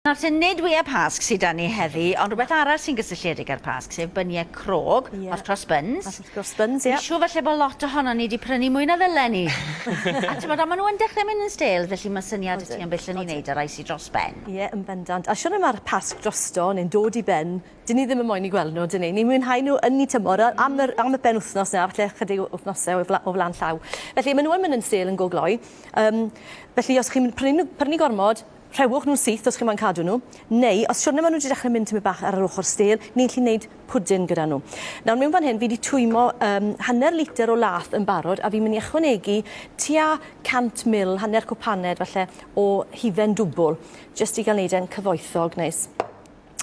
Nawr te, nid wyau Pasg sy 'da ni heddi, ond rhywbeth arall sy'n gysylltiedig â'r Pasg, sef byniau crog, hot cross buns. Hot cross buns, ie. Dwi'n siŵr falle bod lot ohonon ni 'di prynu mwy na ddyle ni. A timod, ond maen nhw yn dechrau mynd yn stale, felly mae syniad 'da ti am beth 'llen ni wneud â rai sy dros ben. Ie, yn bendant. A siŵr le mae'r Pasg drosto neu'n dod i ben, dyn ni ddim yn moyn eu gweld nhw, dyn ni. Ni'n mwynhau nhw yn eu tymor, a am yr am y penwythnos nawr, falle ychydig o wythnosau o fla- o flaen llaw. Felly, maen nhw yn mynd yn stale yn go gloi. Yym, felly os chi'n prynu nhw prynu gormod, Rhewch nhw'n syth os chi moyn cadw nhw, neu os siwrne maen nhw wedi dechrau mynd tymed bach ar yr ochr stêl, ni'n gallu wneud pwdin gyda nhw. Nawr mewn fan hyn fi wedi twymo um, hanner litr o lath yn barod a fi'n mynd i ychwanegu tua 100 mil, hanner cwpaned falle, o hufen dwbl, jyst i gael wneud e'n cyfoethog neis.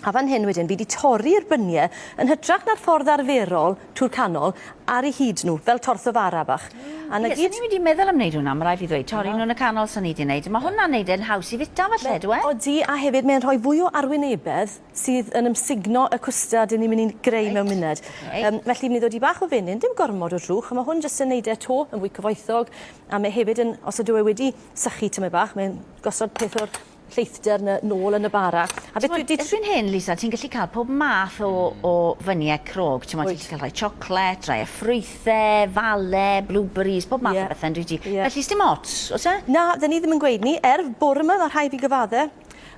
a fan hyn wedyn fi wedi torri'r bynie yn hytrach na'r ffordd arferol trwy'r canol ar ei hyd nhw fel tortho fara bach a 'na gyd. Ie, swn i wedi meddwl am wneud hwnna, ma' raid fi ddweud, torri nhw yn y canol swn i 'di wneud, ma' hwnna'n neud e'n haws i fita falle ydyw e? Odi a hefyd mae'n rhoi fwy o arwynebedd sydd yn ymsugno y cwstard 'yn ni'n mynd i greu mewn munud. Yym felly fi'n mynd i ddod i bach o fenyn, dim gormod o drwch, a ma' hwn jyst yn neud e 'to yn fwy cyfoethog a mae hefyd yn, os ydyw e wedi sychu tymed bach, mae'n gosod peth o'r lleithder na nôl yn y bara. A beth dwi 'di... Erbyn hyn, Lisa, ti'n gallu cael pob math o, o fyniau crog. Ti'n gallu cael rhai chocolate, rhai a ffrwythau, fale, blueberries, pob math yeah. o bethau yn rydw yeah. Felly, dim ots, oes e? Na, dyn ni ddim yn gweud ni. Er, bore yma, mae rhai fi gyfadde,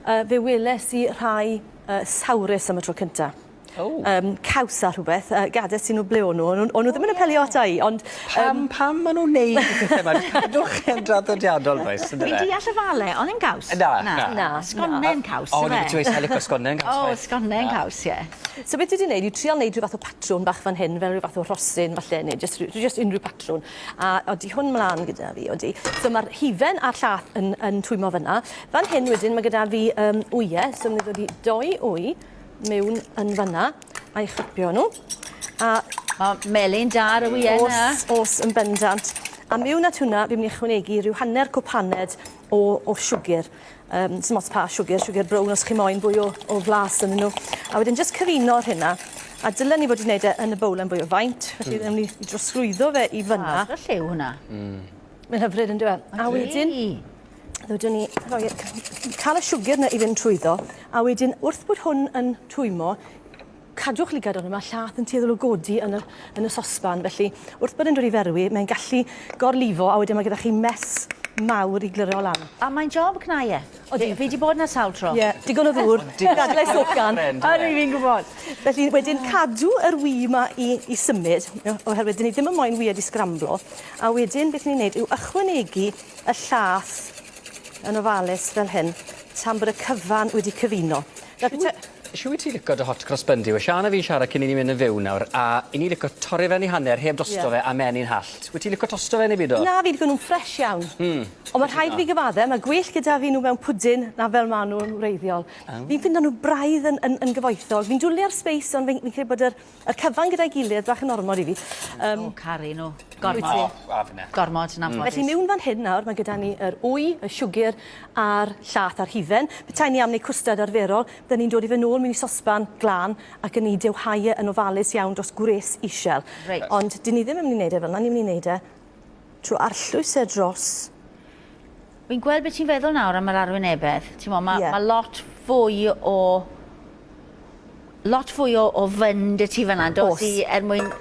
uh, fe weles i rhai uh, sawrus am y tro cyntaf. Oh. Um, caws a rhywbeth, uh, gades i nhw ble o'n nhw, o'n nhw oh, ddim yn apelio ata i, ond... Pam, um, pam maen nhw'n neud y pethau yma? Cadwch yn draddodiadol, does? Fi deall y fale, ond yn caws? Na, na. na. na. Sgonnen caws, yfe? O, ni beth i'n licio sgonnen caws. O, sgonnen caws, ie. So beth dwi wedi gwneud, i trial wneud rhyw fath o patrwn bach fan hyn, fel rhyw fath o rhosyn falle, neu just, just unrhyw patrwn. A oeddi hwn mlaen gyda fi, oeddi. So mae'r hufen a'r llath yn, yn twymo fyna. Fan hyn wedyn, mae gyda fi um, wyau, so ni'n dod i doi wy, mewn yn fanna, a'i chipio nhw. A... O, melyn da ar y wye yna. Os, os yn bendant. A mewn at hwnna, fi'n mynd i ychwanegu rhyw hanner cwp haned o, o siwgr. Um, sy'n mots pa siwgr, siwgr brown os chi moyn fwy o, o flas yn nhw. A wedyn jyst cyfuno'r hynna. A dylen ni fod wedi gwneud e yn y bowlen fwy o faint, felly mm. ddim ni drosglwyddo fe i fyna. Ah, lliw hwnna. Mm. Mae'n hyfryd yn dweud. A wedyn, ddwydwn ni roi, cael y siwgr na i fynd trwyddo, a wedyn wrth bod hwn yn twymo, cadwch lygad ond mae llath yn tueddol o godi yn y, yn y sosban, felly wrth bod yn dod i ferwi, mae'n gallu gorlifo, a wedyn mae gyda chi mes mawr i glyro lan. A mae'n job cnaieth. Odi, fi 'di bod 'na sawl tro. Ie, digon o ddŵr. Dadlais hogan. A dwi fi'n gwbod. Felly wedyn cadw yr wye 'ma i i symud o- oherwydd 'dyn ni ddim yn moyn wye 'di sgramblo a wedyn beth ni'n neud yw ychwanegu y llath yn ofalus fel hyn tan bod y cyfan wedi cyfuno. Nawr bita... Shw wyt ti lico dy hot cross bun di? We Siân a fi'n siarad cyn i ni mynd yn fyw nawr a i ni lico torri fe yn ei hanner heb dosto fe a menyn hallt. Wyt ti'n lico tosto fe neu byd o? Na fi lico nhw'n ffresh iawn. Hmm. Ond ma' rhaid fi gyfadde ma' gwell gyda fi nhw mewn pwdin na fel ma' nhw yn wreiddiol. Fi'n ffindo nhw braidd yn yn yn gyfoethog fi'n dwli ar speis ond fi'n fi'n credu bod yr Yr cyfan gyda'i gilydd bach yn ormod i fi. Yym. O caru nhw. Gormod. Wyt ti? O, a finne. Gormod, yn anffodus. Felly miwn fan hyn nawr, mae gyda ni yr wy, y siwgr a'r llath a'r hufen. Petai ni am wneud cwstard arferol, bydden ni'n dod i fe nôl mewn i sosban glân ac yn ei dewhau e yn ofalus iawn dros gwres isel. Reit. Ond dyn ni ddim yn mynd i wneud e fel 'na, ni'n mynd i wneud e trwy arllwys e dros Fi'n gweld beth ti'n feddwl nawr am yr arwynebedd. Ti'n mo, mae yeah. ma lot fwy o... Lot fwy o, o fynd y ti fyna, dos i er mwyn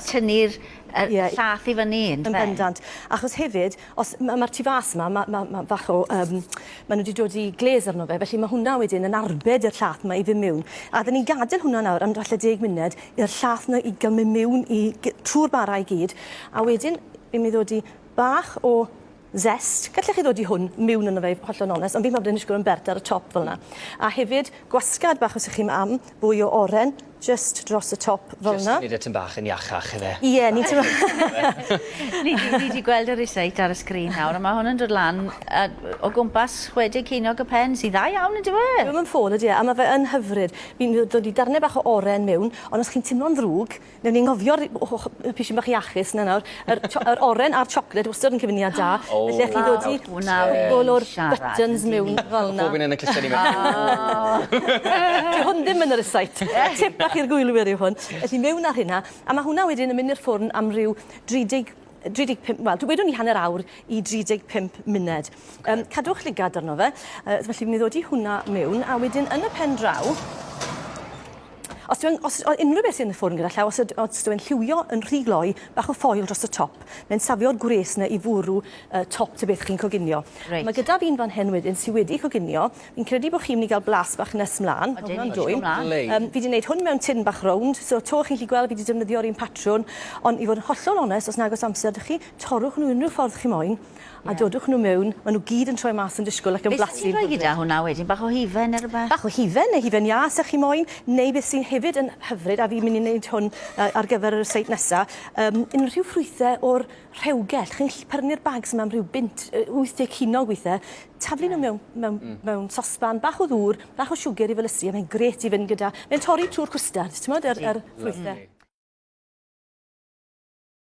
tynnu'r er, yeah. llath i fyny. Yn bendant. Achos hefyd, os mae'r ma tu fas yma, mae ma, ma fach o... Um, maen nhw wedi dod i gles arno fe, felly mae hwnna wedyn yn arbed i'r llath yma i fy mewn. A dyn ni'n gadael hwnna nawr am falle deg munud i'r llath yna i gael mynd mewn i trwy'r bara i gyd. A wedyn, fi'n mynd ddod i bach o Zest. Gallech chi ddod i hwn miwn yno fe i hollol onest, ond fi'n meddwl bod e'n ishgol yn bert ar y top fel 'na. A hefyd gwasgad bach os 'ych chi'm am fwy o oren jyst dros y top fel 'na. Jyst i neud e tym bach yn iachach ife? Ie ni'n teimlo Ni di ni di gweld y reciet ar y sgrin nawr a ma' hwn yn dod lan yy o gwmpas chwe deg ceiniog y pen sy dda iawn yndyw e? Dyw e 'im yn ffôl ydi e? A ma' fe yn hyfryd. Fi'n dod i darne bach o oren miwn ond os chi'n timlo'n ddrwg Newn ni ngofio ry- o ho- yy pishyn bach iachus 'na nawr. Yr t'o' yr oren a'r chocolate wastod yn cyfuniad da. O! Felly allwch chi ddodi... Nawr hwnna fi'n siarad. ...all o'r buttons miwn fel 'na. Pob un yn y cluste ni mewn. Dyw hwn ddim yn y rysáit. Tip bach i'r gwylwyr yw hwn. Felly miwn ar rheina, a ma' hwnna wedyn yn myn' i'r ffwrn am ryw 30 35, wel, dwi wedwn ni hanner awr i 35 munud. Um, cadwch lligad arno fe. Uh, felly, mi ddod i hwnna mewn, a wedyn yn y pen draw, Os dwi'n os, unrhyw beth sy'n y ffwrn gyda llaw, os, os dwi'n lliwio yn rhy gloi, bach o ffoil dros y top, mae'n safio'r gwres yna i fwrw uh, top ty beth chi'n coginio. Right. Mae gyda fi'n fan hyn wedyn sydd wedi coginio, Fi'n credu bod chi'n mynd i gael blas bach nes mlaen. Odyn, ni'n dwyn o mlaen. Yym, fi 'di neud hwn mewn tin bach rownd, so 'to chi'n gallu gweld fi 'di defnyddio'r un patrwn, ond i fod yn hollol onest, os nag oes amser 'da chi, torrwch nhw unrhyw ffordd chi moyn, a dodwch nhw mewn, ma' nhw gyd yn troi mas yn disgwyl ac yn blasu yn hyfryd. Be' ti'n rhoi gyda hwnna wedyn, bach o hufen ne' rwbeth? Bach o hufen neu hufen iâ 'sa chi moyn, neu beth sy'n hefyd yn hyfryd, a fi'n mynd i neud hwn yy ar gyfer y recipe nesa, yym unrhyw ffrwythe o'r rhewgell, chi'n gallu pyrnu'r bags yma am rhyw bunt, yy 80 cinog weithiau, taflu nhw mewn, mewn, mm. mewn sosban, bach o ddŵr, bach o siwgr i felysu, a mae'n gret i fynd gyda... Mae'n torri trwy'r cwstard, ti'n modd, yr, yr ffrwythau.